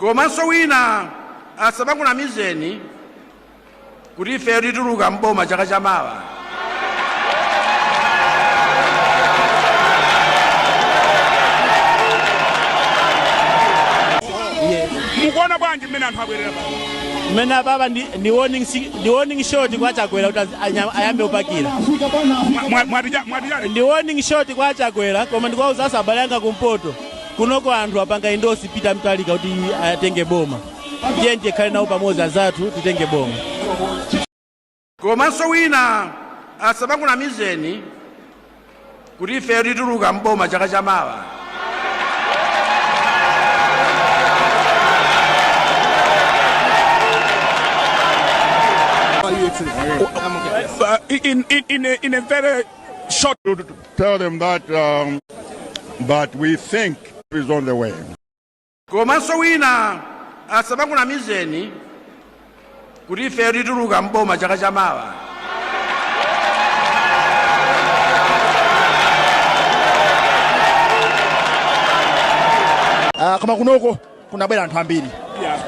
komanso wina asamakunamizeni kuti ifeyo tituluka mboma chaka chamawa mukuona bwanji mmene anthu abwerera mmene apapa ndi ndi warning si- ndi warning shot kwa chakwera kuti azi- anya- ayambe kupakira mwatijani ndi warning shot kwa chakwera koma ndikuwauza asabale anga kumpoto kunoko anthu apanga endorse Peter Mutharika kuti atenge boma ndiye tikhale nawo pamodzi azathu titenge boma komanso wina asamakunamizeni kuti ifeyo tituluka mboma chaka cha mawa in, in, in, a, in a very shot to tell them that um, Peter Mutharika is on the way komanso wina asamakunamizeni kuti ifeyo tituluka mboma chaka cha mawa uh, koma kunoko kunabwera anthu ambiri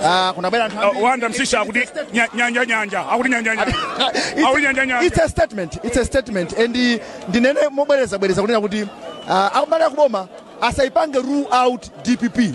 Ah, kunabwera anthu ambiri. wanda msisha akuti nya- nyanja nyanja akuti nyanja nyanja akuti nyanja nyanja It's a statement. It's a statement. And uh, ndinene mobwereza bwereza kunena kuti uh, anthu a kuboma asaipange rule out DPP.